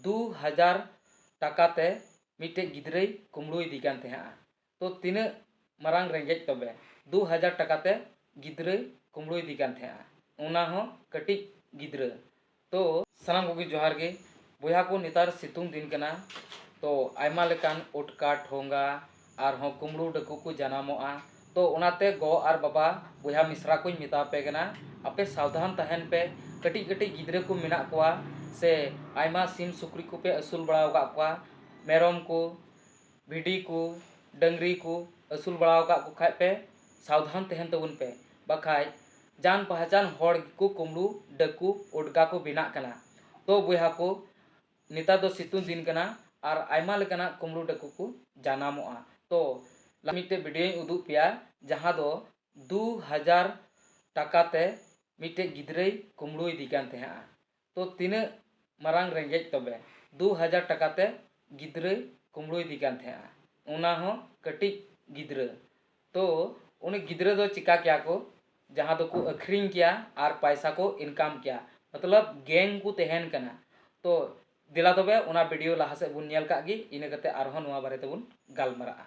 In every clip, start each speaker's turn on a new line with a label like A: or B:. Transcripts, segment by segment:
A: ᱫᱩ ᱦᱟᱡᱟᱨ ᱴᱟᱠᱟ ᱛᱮ ᱢᱤᱫᱴᱮᱱ ᱜᱤᱫᱽᱨᱟᱹᱭ ᱠᱩᱢᱲᱩᱭᱮᱫᱮ ᱠᱟᱱ ᱛᱟᱦᱮᱸᱫᱼᱟ ᱛᱚ ᱛᱤᱱᱟᱹᱜ ᱢᱟᱨᱟᱝ ᱨᱮᱸᱜᱮᱡ ᱛᱚᱵᱮ ᱫᱩ ᱦᱟᱡᱟᱨ ᱴᱟᱠᱟ ᱛᱮ ᱜᱤᱫᱽᱨᱟᱹᱭ ᱠᱩᱢᱲᱩᱭᱮᱫᱮ ᱠᱟᱱ ᱛᱟᱦᱮᱸᱫᱼᱟ ᱚᱱᱟ ᱦᱚᱸ ᱠᱟᱹᱴᱤᱡ ᱜᱤᱫᱽᱨᱟᱹ ᱛᱚ ᱥᱟᱱᱟᱢ ᱠᱚᱜᱮ ᱡᱚᱦᱟᱨ ᱜᱮ ᱵᱚᱭᱦᱟ ᱠᱚ ᱱᱮᱛᱟᱨ ᱥᱤᱛᱩᱝ ᱫᱤᱱ ᱠᱟᱱᱟ ᱛᱚ ᱟᱭᱢᱟ ᱞᱮᱠᱟᱱ ᱩᱴᱠᱟ ᱴᱷᱚᱸᱜᱟ ᱟᱨᱦᱚᱸ ᱠᱩᱢᱲᱩ ᱰᱟᱹᱠᱩ ᱠᱚ ᱡᱟᱱᱟᱢᱚᱜᱼᱟ ᱛᱚ ᱚᱱᱟᱛᱮ ᱜᱚ ᱟᱨ ᱵᱟᱵᱟ ᱵᱚᱭᱦᱟ ᱢᱤᱥᱨᱟ ᱠᱚᱧ ᱢᱮᱛᱟ ᱟᱯᱮ ᱠᱟᱱᱟ ᱟᱯᱮ ᱥᱟᱵᱫᱷᱟᱱ ᱛᱟᱦᱮᱱ ᱯᱮ ᱠᱟᱹᱴᱤᱡ ᱠᱟᱹᱴᱤᱡ ᱜᱤᱫᱽᱨᱟᱹ ᱠᱚ ᱢᱮᱱᱟᱜ ᱠᱚᱣᱟ ᱥᱮ ᱟᱭᱢᱟ ᱥᱤᱢ ᱥᱩᱠᱨᱤ ᱠᱚᱯᱮ ᱟᱹᱥᱩᱞ ᱵᱟᱲᱟ ᱟᱠᱟᱫ ᱠᱚᱣᱟ ᱢᱮᱨᱚᱢ ᱠᱚ ᱵᱷᱤᱰᱤ ᱠᱚ ᱰᱟᱹᱝᱨᱤ ᱠᱚ ᱟᱹᱥᱩᱞ ᱵᱟᱲᱟ ᱟᱠᱟᱫ ᱠᱚ ᱠᱷᱟᱱ ᱯᱮ ᱥᱟᱵᱫᱷᱟᱱ ᱛᱟᱦᱮᱱ ᱛᱟᱵᱚᱱ ᱯᱮ ᱵᱟᱠᱷᱟᱱ ᱡᱟᱱ ᱯᱟᱦᱟᱪᱟᱱ ᱦᱚᱲ ᱜᱮᱠᱚ ᱠᱩᱢᱲᱩ ᱰᱟᱹᱠᱩ ᱩᱰᱜᱟ ᱠᱚ ᱵᱮᱱᱟᱜ ᱠᱟᱱᱟ ᱛᱚ ᱵᱚᱭᱦᱟ ᱠᱚ ᱱᱮᱛᱟᱨ ᱫᱚ ᱥᱤᱛᱩᱝ ᱫᱤᱱ ᱠᱟᱱᱟ ᱟᱨ ᱟᱭᱢᱟ ᱞᱮᱠᱟᱱᱟᱜ ᱠᱩᱢᱲᱩ ᱰᱟᱹᱠᱩ ᱠᱚ ᱡᱟᱱᱟᱢᱚᱜᱼᱟ ᱛᱚ ᱢᱤᱫᱴᱮᱡ ᱵᱷᱤᱰᱤᱭᱳᱧ ᱩᱫᱩᱜ ᱯᱮᱭᱟ ᱡᱟᱦᱟᱸ ᱫᱚ ᱫᱩ ᱦᱟᱡᱟᱨ ᱴᱟᱠᱟ ᱛᱮ ᱢᱤᱫᱴᱮᱡ ᱜᱤᱫᱽᱨᱟᱹᱭ ᱠᱩᱢᱲᱩᱭᱮᱫᱮ ᱠᱟᱱ ᱛᱟᱦᱮᱸᱫᱼᱟ ᱛᱚ ᱛᱤᱱᱟᱹᱜ ᱢᱟᱨᱟᱝ ᱨᱮᱸᱜᱮᱡ ᱛᱚᱵᱮ ᱫᱩ ᱦᱟᱡᱟᱨ ᱴᱟᱠᱟ ᱛᱮ ᱜᱤᱫᱽᱨᱟᱹᱭ ᱠᱩᱢᱲᱩᱭᱮᱫᱮ ᱠᱟᱱ ᱛᱟᱦᱮᱸᱫᱼᱟ ᱚᱱᱟ ᱦᱚᱸ ᱠᱟᱹᱴᱤᱡ ᱜᱤᱫᱽᱨᱟᱹ ᱛᱚ ᱩᱱᱤ ᱜᱤᱫᱽᱨᱟᱹ ᱫᱚ ᱪᱮᱠᱟ ᱠᱮᱭᱟ ᱠᱚ ᱡᱟᱦᱟᱸ ᱫᱚ ᱠᱚ ᱟᱹᱠᱷᱨᱤᱧ ᱠᱮᱭᱟ ᱟᱨ ᱯᱟᱭᱥᱟ ᱠᱚ ᱤᱱᱠᱟᱢ ᱠᱮᱭᱟ ᱢᱚᱛᱞᱚᱵᱽ ᱜᱮᱝ ᱠᱚ ᱛᱟᱦᱮᱱ ᱠᱟᱱᱟ ᱛᱚ ᱫᱮᱞᱟ ᱛᱚᱵᱮ ᱚᱱᱟ ᱵᱷᱤᱰᱤᱭᱳ ᱞᱟᱦᱟ ᱥᱮᱫ ᱵᱚᱱ ᱧᱮᱞ ᱠᱟᱜ ᱜᱮ ᱤᱱᱟᱹ ᱠᱟᱛᱮ ᱟᱨ ᱦᱚᱸ ᱱᱚᱣᱟ ᱵᱟᱨᱮ ᱛᱮᱵᱚᱱ ᱜᱟᱞᱢᱟᱨᱟᱜᱼᱟ᱾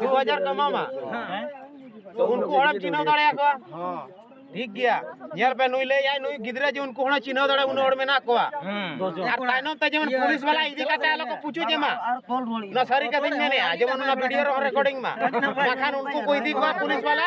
A: ᱫᱩ ᱦᱟᱡᱟᱨ ᱠᱚ ᱮᱢᱟᱢᱟ ᱛᱚ ᱩᱱᱠᱩ ᱦᱚᱲᱮᱢ ᱪᱤᱱᱦᱟᱹᱣ ᱫᱟᱲᱮᱭᱟ ᱠᱚᱣᱟ ᱴᱷᱤᱠ ᱜᱮᱭᱟ ᱧᱮᱞ ᱯᱮ ᱱᱩᱭ ᱞᱟᱹᱭᱟᱭ ᱱᱩᱭ ᱜᱤᱫᱽᱨᱟᱹ ᱡᱮ ᱩᱱᱠᱩ ᱦᱚᱲ ᱪᱤᱱᱦᱟᱹᱣ ᱫᱟᱲᱮ ᱩᱱᱟᱹᱜ ᱦᱚᱲ ᱢᱮᱱᱟᱜ ᱠᱚᱣᱟ ᱟᱨ ᱛᱟᱭᱱᱚᱢ ᱛᱮ ᱡᱮᱢᱚᱱ ᱯᱩᱞᱤᱥ ᱵᱟᱞᱟ ᱤᱫᱤ ᱠᱟᱛᱮ ᱟᱞᱚ ᱠᱚ ᱯᱩᱪᱩᱡ ᱮᱢᱟ ᱱᱚᱣᱟ ᱥᱟᱹᱨᱤ ᱠᱟᱛᱷᱟᱧ ᱢᱮᱱᱮᱜᱼᱟ ᱡᱮᱢᱚᱱ ᱚᱱᱟ ᱵᱷᱤᱰᱤᱭᱳ ᱨᱮᱦᱚᱸ ᱨᱮᱠᱚᱨᱰᱤᱝ ᱢᱟ ᱵᱟᱠᱷᱟᱱ ᱩᱱᱠᱩ ᱠᱚ ᱤᱫᱤ ᱠᱚᱣᱟ ᱯᱩᱞᱤᱥ ᱵᱟᱞᱟ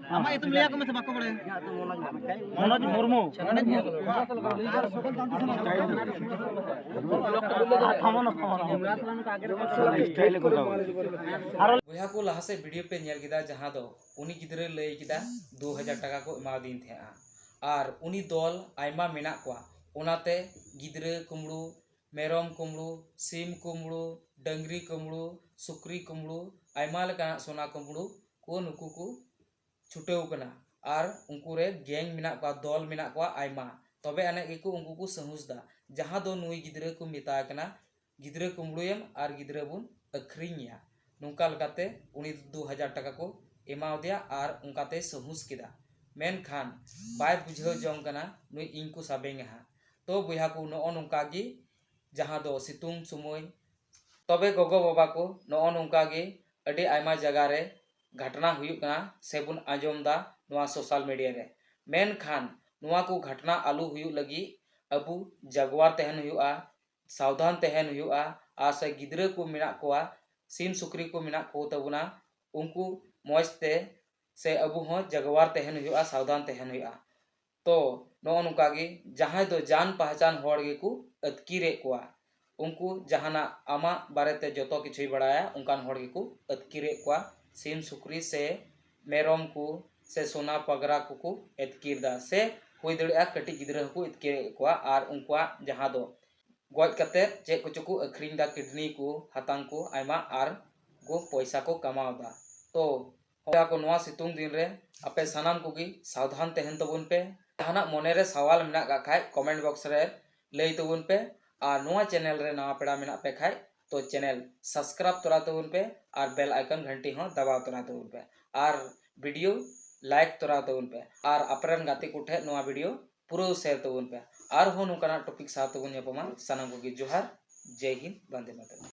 A: ᱟᱢᱟᱜ ᱧᱩᱛᱩᱢ ᱞᱟᱹᱭ ᱟᱠᱚ ᱢᱮᱥᱮ ᱵᱟᱠᱚ ᱵᱟᱲᱟᱭᱟ ᱢᱚᱱᱳᱡᱽ ᱢᱩᱨᱢᱩ ᱵᱚᱭᱦᱟ ᱠᱚ ᱞᱟᱦᱟ ᱥᱮᱫ ᱵᱷᱤᱰᱤᱭᱳ ᱯᱮ ᱧᱮᱞ ᱠᱮᱫᱟ ᱡᱟᱦᱟᱸ ᱫᱚ ᱩᱱᱤ ᱜᱤᱫᱽᱨᱟᱹ ᱞᱟᱹᱭ ᱠᱮᱫᱟ ᱫᱩ ᱦᱟᱡᱟᱨ ᱴᱟᱠᱟ ᱠᱚ ᱮᱢᱟᱣᱫᱤᱧ ᱛᱟᱦᱮᱸᱜᱼᱟ ᱟᱨ ᱩᱱᱤ ᱫᱚᱞ ᱟᱭᱢᱟ ᱢᱮᱱᱟᱜ ᱠᱚᱣᱟ ᱚᱱᱟᱛᱮ ᱜᱤᱫᱽᱨᱟᱹ ᱠᱩᱢᱵᱽᱲᱩ ᱢᱮᱨᱚᱢ ᱠᱩᱢᱵᱽᱲᱩ, ᱥᱤᱢ ᱠᱩᱢᱵᱽᱲᱩ, ᱰᱟᱹᱝᱨᱤ ᱠᱩᱢᱵᱽᱲᱩ, ᱥᱩᱠᱨᱤ ᱠᱩᱢᱵᱽᱲᱩ, ᱟᱭᱢᱟ ᱞᱮᱠᱟᱱᱟᱜ ᱥᱚᱱᱟ ᱠᱩᱢᱵᱽᱲᱩ ᱠᱚ ᱱᱩᱠᱩ ᱠᱚ ᱪᱷᱩᱴᱟᱹᱣ ᱟᱠᱟᱱᱟ᱾ ᱟᱨ ᱩᱱᱠᱩ ᱨᱮ ᱜᱮᱝ ᱢᱮᱱᱟᱜ ᱠᱚᱣᱟ, ᱫᱚᱞ ᱢᱮᱱᱟᱜ ᱠᱚᱣᱟ ᱟᱭᱢᱟ᱾ ᱛᱚᱵᱮ ᱟᱹᱱᱤᱡ ᱜᱮᱠᱚ ᱩᱱᱠᱩ ᱠᱚ ᱥᱟᱹᱦᱩᱥ ᱮᱫᱟ᱾ ᱡᱟᱦᱟᱸ ᱫᱚ ᱱᱩᱭ ᱜᱤᱫᱽᱨᱟᱹ ᱠᱚ ᱢᱮᱛᱟᱭ ᱠᱟᱱᱟ, ᱜᱤᱫᱽᱨᱟᱹ ᱠᱩᱢᱵᱽᱲᱩᱭᱮᱢ ᱟᱨ ᱜᱤᱫᱽᱨᱟᱹ ᱵᱚᱱ ᱟᱹᱠᱷᱨᱤᱧᱮᱭᱟ᱾ ᱱᱚᱝᱠᱟ ᱞᱮᱠᱟᱛᱮ ᱩᱱᱤ ᱫᱚ ᱫᱩ ᱦᱟᱡᱟᱨ ᱴᱟᱠᱟ ᱠᱚ ᱮᱢᱟ ᱟᱫᱮᱭᱟ ᱟᱨ ᱚᱱᱠᱟ ᱛᱮᱭ ᱥᱟᱹᱦᱩᱥ ᱠᱮᱫᱟ᱾ ᱢᱮᱱᱠᱷᱟᱱ ᱵᱟᱭ ᱵᱩᱡᱷᱟᱹᱣ ᱡᱚᱝ ᱠᱟᱱᱟ ᱱᱩᱭ ᱤᱧ ᱠᱚ ᱥᱟᱵᱮᱧᱟ ᱦᱟᱸᱜ᱾ ᱛᱚ ᱵᱚᱭᱦᱟ ᱠᱚ ᱱᱚᱜᱼᱚ ᱱᱚᱝᱠᱟ ᱜᱮ ᱡᱟᱦᱟᱸ ᱫᱚ ᱥᱤᱛᱩᱝ ᱥᱚᱢᱚᱭ ᱛᱚᱵᱮ ᱜᱚᱜᱚ ᱵᱟᱵᱟ ᱠᱚ ᱱᱚᱜᱼᱚ ᱱᱚᱝᱠᱟ ᱜᱮ ᱟᱹᱰᱤ ᱟᱭᱢᱟ ᱡᱟᱭᱜᱟ ᱨᱮ ᱜᱷᱟᱴᱱᱟ ᱦᱩᱭᱩᱜ ᱠᱟᱱᱟ ᱥᱮ ᱵᱚᱱ ᱟᱸᱡᱚᱢ ᱫᱟ ᱱᱚᱣᱟ ᱥᱳᱥᱟᱞ ᱢᱤᱰᱤᱭᱟ ᱨᱮ ᱢᱮᱱᱠᱷᱟᱱ ᱱᱚᱣᱟ ᱠᱚ ᱜᱷᱟᱴᱱᱟ ᱟᱞᱚ ᱦᱩᱭᱩᱜ ᱞᱟᱹᱜᱤᱫ ᱟᱵᱚ ᱡᱟᱜᱽᱣᱟᱨ ᱛᱟᱦᱮᱱ ᱦᱩᱭᱩᱜᱼᱟ ᱥᱟᱵᱫᱷᱟᱱ ᱛᱟᱦᱮᱱ ᱦᱩᱭᱩᱜᱼᱟ ᱟᱨ ᱥᱮ ᱜᱤᱫᱽᱨᱟᱹ ᱠᱚ ᱢᱮᱱᱟᱜ ᱠᱚᱣᱟ ᱥᱤᱢ ᱥᱩᱠᱨᱤ ᱠᱚ ᱢᱮᱱᱟᱜ ᱠᱚ ᱛᱟᱵᱚᱱᱟ ᱩᱱᱠᱩ ᱢᱚᱡᱽ ᱛᱮ ᱥᱮ ᱟᱵᱚ ᱦᱚᱸ ᱡᱟᱜᱽᱣᱟᱨ ᱛᱟᱦᱮᱱ ᱦᱩᱭᱩᱜᱼᱟ ᱥᱟᱵᱫᱷᱟᱱ ᱛᱟᱦᱮᱱ ᱦᱩᱭᱩᱜᱼᱟ ᱛᱚ ᱱᱚᱜᱼᱚ ᱱᱚᱝᱠᱟ ᱜᱮ ᱡᱟᱦᱟᱸᱭ ᱫᱚ ᱡᱟᱱ ᱯᱟᱦᱪᱟᱱ ᱦᱚᱲ ᱜᱮᱠᱚ ᱟᱹᱛᱠᱤᱨᱮᱫ ᱠᱚᱣᱟ᱾ ᱩᱱᱠᱩ ᱡᱟᱦᱟᱱᱟᱜ ᱟᱢᱟᱜ ᱵᱟᱨᱮ ᱛᱮ ᱡᱚᱛᱚ ᱠᱤᱪᱷᱩᱭ ᱵᱟᱲᱟᱭᱟ ᱚᱱᱠᱟᱱ ᱦᱚᱲ ᱜᱮᱠᱚ ᱟᱹᱛᱠᱤᱨᱮᱫ ᱠᱚᱣᱟ᱾ ᱥᱤᱢ ᱥᱩᱠᱨᱤ ᱥᱮ ᱢᱮᱨᱚᱢ ᱠᱚ ᱥᱮ ᱥᱚᱱᱟ ᱯᱟᱜᱽᱨᱟ ᱠᱚᱠᱚ ᱟᱹᱛᱠᱤᱨ ᱮᱫᱟ ᱥᱮ ᱦᱩᱭ
B: ᱫᱟᱲᱮᱭᱟᱜᱼᱟ ᱠᱟᱹᱴᱤᱡ ᱜᱤᱫᱽᱨᱟᱹ ᱦᱚᱸᱠᱚ ᱟᱹᱛᱠᱤᱨᱮᱫ ᱠᱚᱣᱟ ᱟᱨ ᱩᱱᱠᱩᱣᱟᱜ ᱡᱟᱦᱟᱸ ᱫᱚ ᱜᱚᱡ ᱠᱟᱛᱮ ᱪᱮᱫ ᱠᱚᱪᱚ ᱠᱚ ᱟᱹᱠᱷᱨᱤᱧ ᱮᱫᱟ ᱠᱤᱰᱱᱤ ᱠᱚ ᱦᱟᱛᱟᱝ ᱠᱚ ᱟᱭᱢᱟ ᱟᱨ ᱠᱚ ᱯᱚᱭᱥᱟ ᱠᱚ ᱠᱟᱢᱟᱣ ᱮᱫᱟ᱾ ᱛᱚ ᱵᱚᱭᱦᱟ ᱠᱚ ᱱᱚᱣᱟ ᱥᱤᱛᱩᱝ ᱫᱤᱱ ᱨᱮ ᱟᱯᱮ ᱥᱟᱱᱟᱢ ᱠᱚᱜᱮ ᱥᱟᱵᱫᱷᱟᱱ ᱛᱟᱦᱮᱱ ᱛᱟᱵᱚᱱ ᱯᱮ ᱡᱟᱦᱟᱱᱟᱜ ᱢᱚᱱᱮ ᱨᱮ ᱥᱟᱣᱟᱞ ᱢᱮᱱᱟᱜ ᱠᱟᱜ ᱠᱷᱟᱡ ᱠᱚᱢᱮᱱᱴ ᱵᱚᱠᱥ ᱨᱮ ᱞᱟᱹᱭ ᱛᱟᱵᱚᱱ ᱯᱮ ᱟᱨ ᱱᱚᱣᱟ ᱪᱮᱱᱮᱞ ᱨᱮ ᱱᱟᱣᱟ ᱯᱮᱲᱟ ᱢᱮᱱᱟᱜ ᱯᱮ ᱠᱷᱟᱡ ᱛᱚ ᱪᱮᱱᱮᱞ ᱥᱟᱵᱥᱠᱨᱟᱭᱤᱵ ᱛᱚᱨᱟ ᱛᱟᱵᱚᱱ ᱯᱮ ᱟᱨ ᱵᱮᱞ ᱟᱭᱠᱚᱱ ᱜᱷᱟᱱᱴᱤ ᱦᱚᱸ ᱫᱟᱵᱟᱣ ᱛᱚᱨᱟ ᱛᱟᱵᱚᱱ ᱯᱮ ᱟᱨ ᱵᱷᱤᱰᱤᱭᱳ ᱞᱟᱭᱤᱠ ᱛᱚᱨᱟ ᱛᱟᱵᱚᱱ ᱯᱮ ᱟᱨ ᱟᱯᱮᱨᱮᱱ ᱜᱟᱛᱮ ᱠᱚ ᱴᱷᱮᱡ ᱱᱚᱣᱟ ᱵᱷᱤᱰᱤᱭᱳ ᱯᱩᱨᱟᱹᱣ ᱥᱮᱭᱟᱨ ᱛᱟᱵᱚᱱ ᱯᱮ ᱟᱨᱦᱚᱸ ᱱᱚᱝᱠᱟᱱᱟᱜ ᱴᱚᱯᱤᱠ ᱥᱟᱶ ᱛᱮᱵᱚᱱ ᱧᱟᱯᱟᱢᱟ ᱥᱟᱱᱟᱢ ᱠᱚᱜᱮ ᱡᱚᱦᱟᱨ ᱡᱮᱭ ᱦᱤᱱᱫ ᱵᱟᱱᱫᱮ ᱢᱟᱛᱟᱨᱚᱢ